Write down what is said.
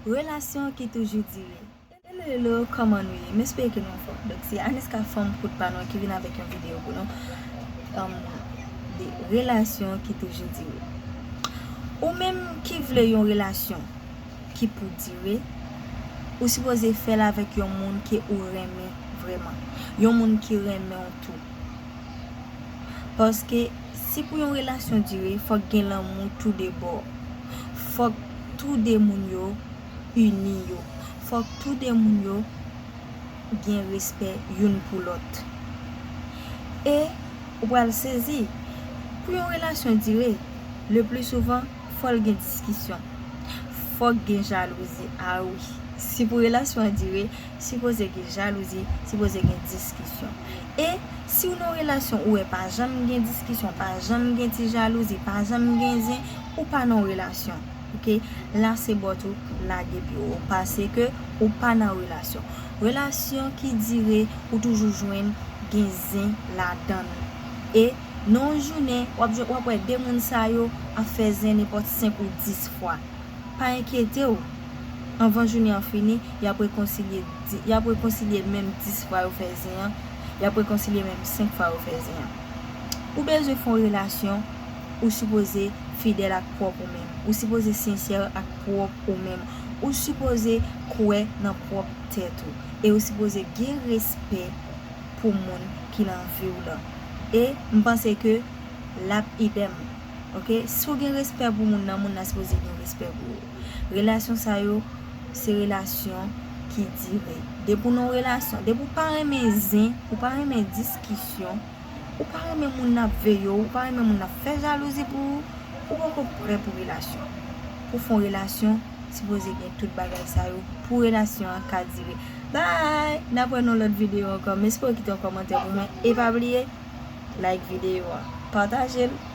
Relasyon ki toujou dire. Hello hello kòman nou ye m espere ke nou anfòm donk se Anisca fanm kout pa nou an ki vin avèk yon videyo pou nou humm de relasyon ki toujou dire ou menm ki vle yon relasyon ki pou dire ou sipoze fèl avèk yon moun ke ou renmen vrèman yon moun ki renmenw tou Paske si pou yon relasyon dire fòk gen lanmou tou de bò. Fòk tou de moun yo ini yo. Fòk tou de moun yo gen respè youn pou lòt. E ou pral sezi, pou yon relasyon dire, le pli souvan fòl gen diskisyon. Fòk gen jalouzi, a wi. Si pou relasyon an dire, Sipoze gen jalouzi, sipoze gen diskisyon. E, si w nan relasyon ou wè pa janm gen diskisyon, pa janm gen ti jalouzi, pa janm gen zen, ou pa nan relasyon. Ok? La se bòt ou lage pye w. Pase ke ou pa nan relasyon. Relasyon ki dire, ou toujou jwenn gen zen ladan l. E, nan yon jounen, w ap jwenn, w ap wè 2 moun sa yo ap fè zen nenpòt 5 ou 10 fwa. Pa enkyete w, anvan jounen an fini, y ap rekonsilye, y ap rekonsilye menm dis fwa yo fè zen an, y ap rekonsilye menm senk fwa yo fè zen an. Ou bezwen fè yon relasyon, ou sipoze fidèl ak pwòp ou menm, ou sipoze sensè ak pwòp ou menm, ou sipoze kwè nan pwòp tèt ou, e ou sipoze gen respè pou moun ki nan vi w lan. E, m panse ke l ap idem. ok si ou gen respè pou moun nan moun nan sipoze gen respè pou ou relasyon sa yo se relasyon ki dire depi ou nan yon relasyon depi ou pa renmen zen ou pa renmen diskisyon ou pa renmen moun nan ap veye ou ou pa renmen moun nan ap fè jalouzi pou ou ou poko prè pou relasyon pou w fè yon relasyon sipoze gen tout bagay sa yo pou relasyon an ka dire bye n ap wè nan yon lòt videyo ankò m espere w kite yon kòmantè pou mwen e pa bliye like videyo a pataje l.